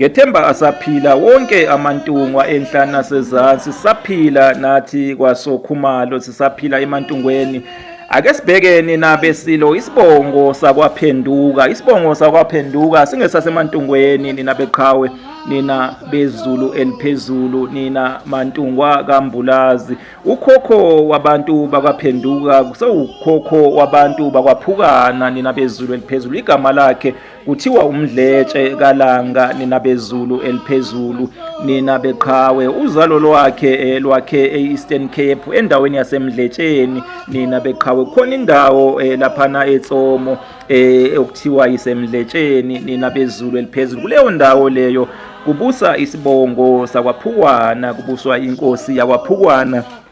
Ngethemba asaphila wonke amantungwa enhlana sezansi saphila nathi kwasokhumalo sisaphila emantungweni ake sibhekeni nabesilo isibongo sakwaphenduka isibongo sakwaphenduka singesasemantungweni nina beqhawe nina bezulu eliphezulu nina mantungwa kambulazi ukhokho wabantu bakwaphenduka kusewukhokho wabantu bakwaphukana nina bezulu eliphezulu igama lakhe Kuthiwa umdletshe kalanga nina bezulu eliphezulu nina beqhawe uzalo lwakhe eh, lwakhe e-Eastern Cape endaweni yasemdletsheni nina beqhawe khona indawo eh, laphana eTsomo eh, okuthiwa isemdletsheni nina bezulu eliphezulu kuleyo ndawo leyo kubusa isibongo sakwaphukwana kubuswa inkosi yakwaphukwana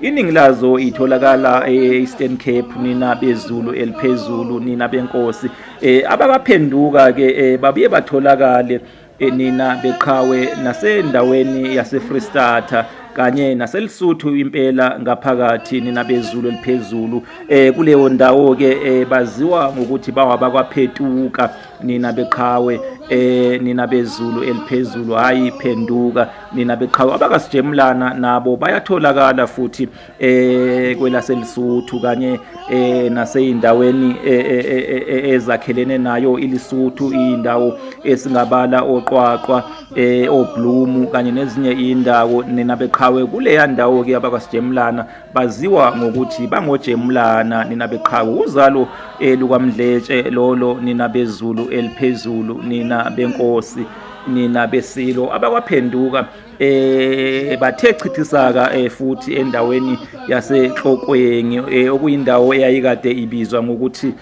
Iningi lazo itholakala e-Eastern Cape nina bezulu eliphezulu nina benkosi eh ababaphenduka ke eh, babuye batholakale eh, nina beqhawe nasendaweni yase Freestata kanye naselisuthu impela ngaphakathi nina bezulu eliphezulu eh kuleyo ndawo ke eh, baziwa ngokuthi bawabakwa phetuka nina beqhawe eh nina bezulu eliphezulu hayi phenduka nina beqhawe abakasijemulana nabo bayatholakala futhi eh kwelaselisuthu kanye eh naseyindaweni eh, eh, eh, ezakhelene nayo ilisuthu indawo esingabala oqwaqwa eh oblumu kanye nezinye indawo nina beqhawe kuleya ndawo ke abakasijemulana baziwa ngokuthi bangojemulana nina beqhaku uzalo eh, lukamdletshe lolo nina bezulu eliphezulu nina benkosi nina besilo abakwaphenduka eh bathe chithisaka eh, futhi endaweni yasehlokweni eh, okuyindawo eyayikade ibizwa ngokuthi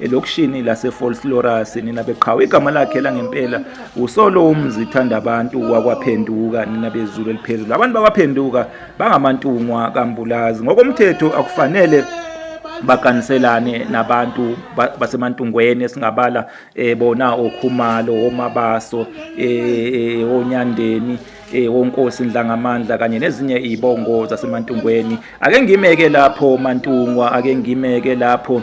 elokishini laseFolslorus nina beqhawe igama lakhe langempela usolo umzithanda abantu wakwaphenduka nina bezulu eliphezulu abantu bakwaphenduka bangamantungwa kambulazi ngokomthetho akufanele bakaniselane nabantu basemantungweni esingabala eh, bona okhumalo omabaso eh, eh, onyandeni eh wonkosi ndlangamandla kanye nezinye izibongo zasemantungweni ake ngimeke lapho mantungwa ake ngimeke lapho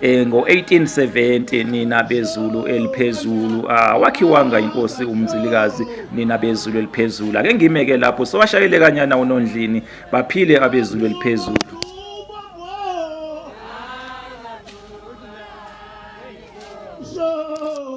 Eh ngo-1870 nina bezulu eliphezulu ah, wakhiwanga inkosi umzilikazi nina bezulu eliphezulu ake ngimeke lapho sowashayele kanyana unondlini baphile abezulu eliphezulu